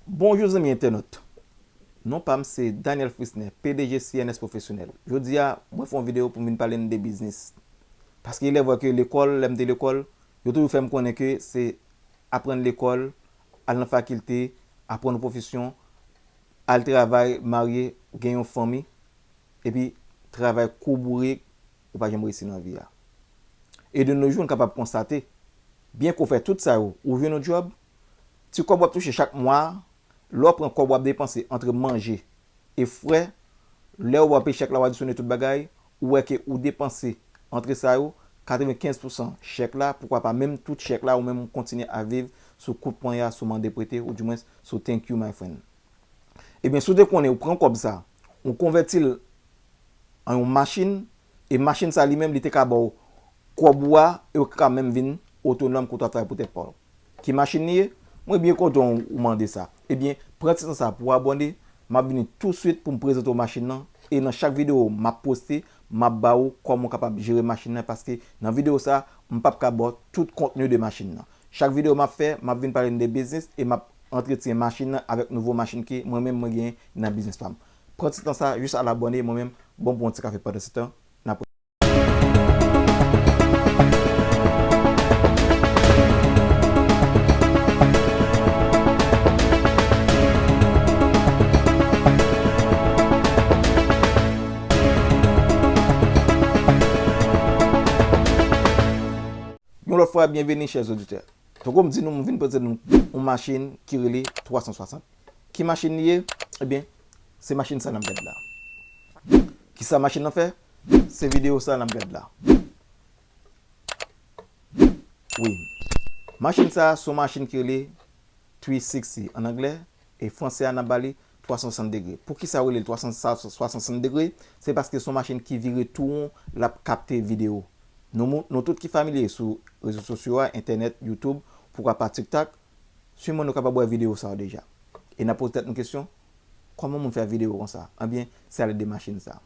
Bonjou zanmi entènot! Non pa m se Daniel Frisner, pdg CNS Professionnel. Jodi a, mwen fè yon videyo pou m vin pale n de biznis. Paske il est vrai ke lekòl, lè m te lekòl, yo toujou fè m konnen ke se aprann lekòl, al nan fakilte, aprann yon pwofesyon, al travay, marye, gen yon fanmi, epi travay kou bourik, ou pa janm reyisi nan vi a. E de no jou, n kapab konstate, byen ke w fè tout sa yo, ou jwenn yon djòb, Ti kòb w ap touche chak mwa a, lè w pran kòb w ap depanse antre manje e frè, lè ou ap chèk la ou adisyone tout bagay, ou wè ke ou depanse antre sa yo, 95 pousan chèk la, poukwa pa menm tout chèk la ou menm ou kontinye ap viv sou kout ponya, sou mande prete ou di mwens sou thank you my friend. Ebyen si w te konnen ou pran kòb sa, ou konvèti l an yon machin e machin sa li menm li te ka ba w kòb ou a e ou te ka menm vin otonòm kote w ap travay pou tèt pa w. Ki machin li ye? Mwen byen kontan ou mande sa. Ebyen, pran ti tan sa pou w abòne, m ap vini touswit pou m prezante w machin lan, e nan chak videyo m ap poste, m ap ba ou kòman w kapab jere machin lan paske nan videyo sa, m p ap ka ba w tout kontni de machin lan. Chak videyo m ap fè, m ap vin pale n de biznis e m ap antretyen machin lan avèk nouvo machin ke mwen menm mwen genyen nan biznis pa m. Pran ti tan sa jis al abòne, mwen menm, bon pou yon ti kafe pandansetan, n ap. Yon lòt fwa byenveni chè zoditè. Tankou m di nou m vin prezante nou yon machin ki rele 360. Ki machin li ye? Ebyen se machin sa n ap gade la. Kisa machin nan fè? Se video sa nap gad la wi. Machin sa son machin ki rele 360 an anglè e fransè a nap bali 360 degre. Poukisa yo relel 360 degre se paske son machin ki vire tou won lap kapte video. Nou tout ki familye sou rezo sosyo a entènèt youtube pouka pa tiktak siman nou kapab wè video sa yo deja. E nap poze tèt nou kesyon kòman moun fè video konsa ebyen se ale de machin sa.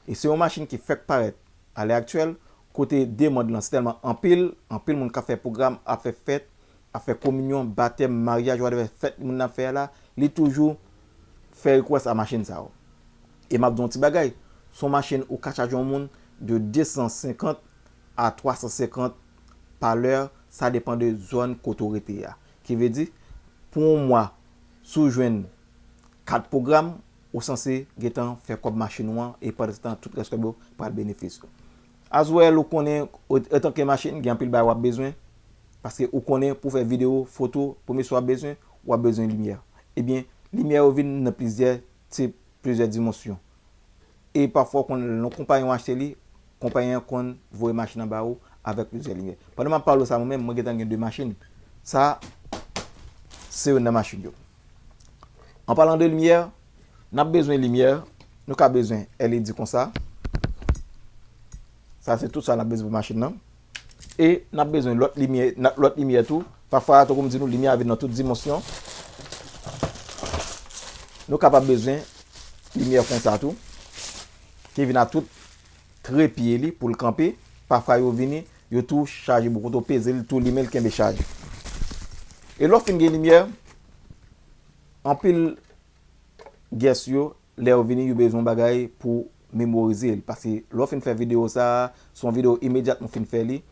e se yon machin ki fèk parèt alè aktyèl kote demand lan tèlman anpil, anpil moun kap fè pwogram ap fè fèt, ap fè kominyon, batèm, maryaj whatever fèt moun nan ap fè a la li toujou fè request a machin sa yo. E map di yon ti bagay, se yon machin ou ka chaje yon moun de 250 a 350 pa lè sa depan de zòn kote ou rete a. Ki vle di pou yon mwa si w jwenn 4 pwogram Ou sanse gentan fè kòb machin ou an e pandanstan tout rès kòb yo pral benefis ou. As well ou konnen otanke machin gen anpil bagay wap bezwen paske ou konnen pou fè video, foto, premye swa wap bezwen wap bezwen limyè ebyen limyè yo vin nan plizyè tip, plizyè dimonsyon e pafwa ou konn lè konpayi an achte li konpayi an konn voye machin an ba ou avèk plizyè limyè. Pandan map pale w sa mwen menm mwen gentan gen 2 machin sa se youn nan machin yo. An palan de limyè, n ap bezwen limyè, nou ka bezwen LED kon sa. Sa se tout sa n ap bezwen pou machin nan. E n ap bezwen lòt limyè, lòt limyè tou. Pafwa, tankou m di nou, limyè a vin nan tout dimansyon. Nou kapab bezwen limyè kon sa tou, ki vin a tout. Tre pye li pou l kanpe. Pafwa yo vini, yo tou chaje bokoto, peze l, tou limen l kenbe chaj. E lè w fin gen limyè, anpil guest yo, lè yo vini, yo bezwen yon bagay pou memorize l. Paske lè w fin fè videyo sa a, se yon videyo imedyatman ou fin fè li,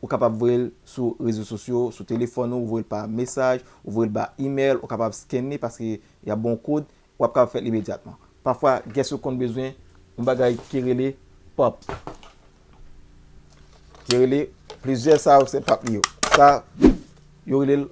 ou kapab voye l sou rezo sosyo, sou telefòn ou, ou voye l pa mesaj, ou voye l ba imèl, ou kapab scan li paske y ap ba w kod, w ap kapab fè l imedyatman. Pafwa gès ou konn bezwen yon bagay ki rele pap, ki rele plizyè sa yo se pap li yo. Sa yo rele l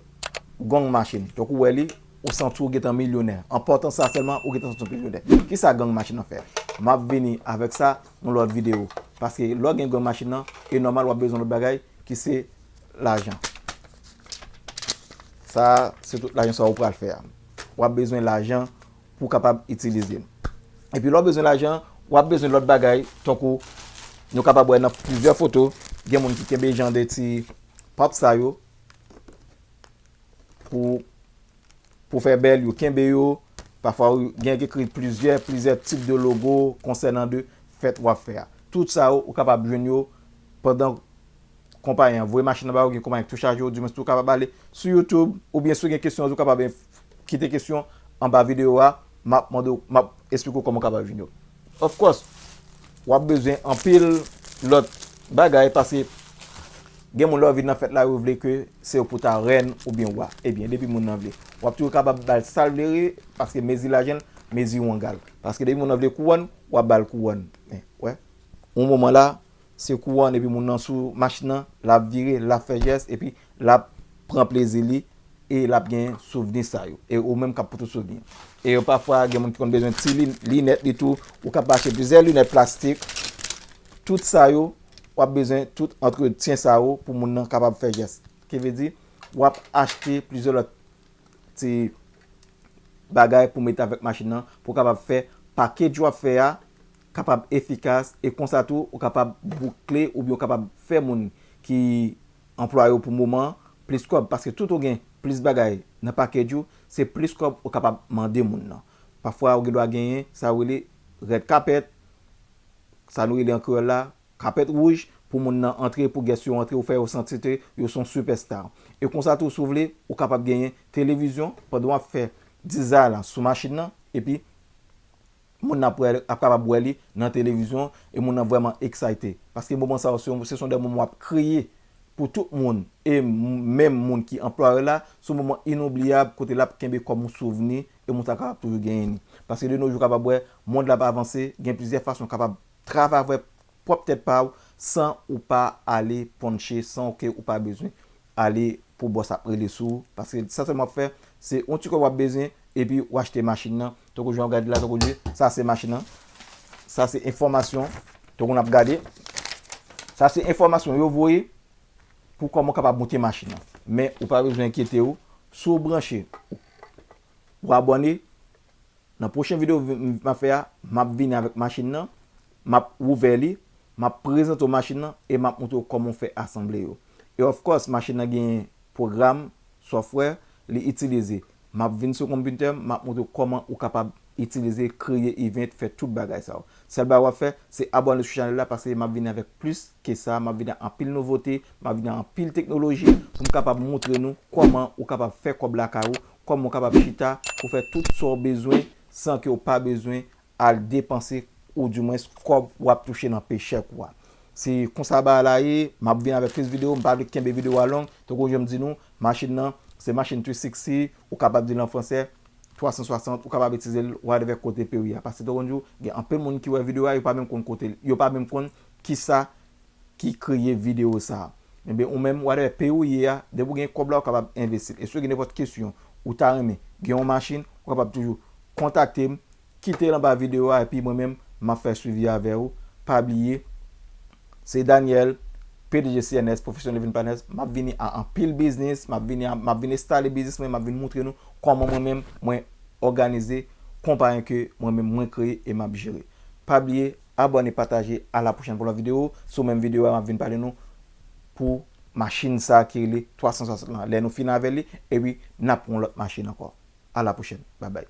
gong machin. Donk ou wè li, ou santi w gentan milyonè. An pòtan sa sèlman, ou gentan santi w milyonè. Ki sa gong machin nan fè? M ap vini avèk sa yon lòt videyo. Paske lè w gen gong machin nan, e nòmal w ap bezwen lòt bagay ki se lajan. Sa a se tout lajan sa ou pral fè a. w ap bezwen lajan pou w kapab itilize l. Epi lè w bezwen lajan, w ap bezwen lòt bagay tankou nou kapab wè nan plizyè foto, gen moun ki kenbe jan de ti pap sa yo pou fè bèl, yo kenbe yo. Pafwa gen yon ki ekri plizyè, plizyè tip de logo konsènan de fèt w ap fè a. Tout sa yo ou kapab jwenn yo pandan. konpayi an voye machin nan ba ou, gen konpayi an ki tou chaje ou, di mwens tou kapab ale sou youtube ou byen si ou gen kesyon tou kapab kite kesyon anba videyo a map mande ou, map esplike ou kòman ou kapab jwenn yo. Of course wap bezwen anpil lòt bagay pase gen moun lè ou vin nan fèt la yo vle ke se ou pou ta rèn ou byen wa ebyen depi moun nan vle wap toujou kapab bal sal vle wi paske mezi lajan l mezi wangal paske depi moun nan vle kouwòn wap bal kouwòn men wè yon moman la Se kouwòn epi moun nan sou machin nan, lap vire, lap fè jès epi lap pran plezi li e lap gen souvni sa yo. E ou menm kap pou tout souvni yo. E yo pafwa gen moun ki konn bezwen ti linèt li tou, ou kab achte plizyè linèt plastik, tout sa yo wap bezwen tout antretyen sa yo pou moun nan kapab fè jès. Ki vle di wap achte plizyè lòt ti bagay pou mete avèk machin nan pou kapab fè pakej wap fè a kapab efikas e konsa tou ou kapab boukle oubyen ou kapab fè moun ki anplwaye w pou moman an plis kòb paske tout ou gen plis bagay nan package ou se plis kòb ou kapab mande moun nan pafwa ou gen dwa genyen sa yo rele red carpet sa nou rele an kreyòl la kapèt wouj pou moun nan antre pou guest yo antre ou fè yo santi ke yo son super star e konsa tou si w vle ou kapab genyen televizyon pandan w ap fè dizay la sou machin nan epi. Moun nan ap wè ap kapab wè li nan televizyon e moun nan vrèman eksayte. Paske moman sa yo se se son de moman wap kriye pou tout moun e menm moun ki anplwaye la, son moman inoubliyab kote lap kenbe kòm yon souvni e moun sa kapab toujou genyen li. Paske de no jou kapab wè mond la ap avanse, gen plizyè fason kapab travay avèk pwòp tèt pa ou san ou pa ale ponche san ke ou pa bezwen ale pou bòs ap rele sou ou paske sa sèlman wap fè se yon ti kòb wap bezwen epi ou achte machin nan tankou jan ou gade la tankou jan sa se machin nan sa se enfòmasyon tankou nap gade sa se enfòmasyon yo voye pou kòman ou kapab moute machin nan men ou pa bezwen enkyete ou si ou branche ou abòne nan pwochen videyo map fè a map vini avèk machin nan M ap ouvè li, m ap prezante w machin nan e m ap montre w kòman w fè asanble yo. E of course machin nan genyen pwogram, software, li itilize. M ap vin sou konpitè m, m ap montre w kòman ou kapab itilize, kreye event, fè tout bagay sa yo. Sèl bagay w ap fè, se abòne sou chanèl la paske m ap vini avèk plis ke sa, m ap vini ak anpil nouvote, m ap vini ak anpil teknoloji pou m kapab montre nou kòman ou kapab fè kòb lakay ou, kòman ou kapab chita pou fè tout sa w bezwen san ke w pa bezwen al depanse ou di mwens kòb wap touche nan pay check ou a. Se konsa bagay la ye, map vin avèk plis video, m pa vle kenbe video a long, tankou janm di nou, machin nan se machin 360, ou kapab di l an fransè, 360, ou kapab itize l whatever kote peyi a pase tankou m di w gen anpil moun ki wè video a yo pa menm konn kote l yo pa menm konn kisa ki kreye video sa. Ebyen ou menm whatever peyi ou ye a depi ou gen kòb la ou kapab envestil. E si ou gen nenpòt kesyon ou ta renmen gen yon machin ou kapab toujou kontakte m kite l anba video a epi mwen menm m ap fè swivi avè ou pa bliye se Daniel pdg CNS Professional Living Partners m ap vini a anpil biznis m ap vini a m ap vin estale biznis mwen m ap vin moutre nou kòman mwen menm mwen òganize konpayen ke mwen menm mwen kreye e m ap jere pa bliye. Abone pataje a la pwochèn pou lòt video sou menm video a map vin pale nou pou machine sa ki rele 360 lan lè nou fin avèl li epi nap pran yon lòt machine ankò a la pwochèn bye bye.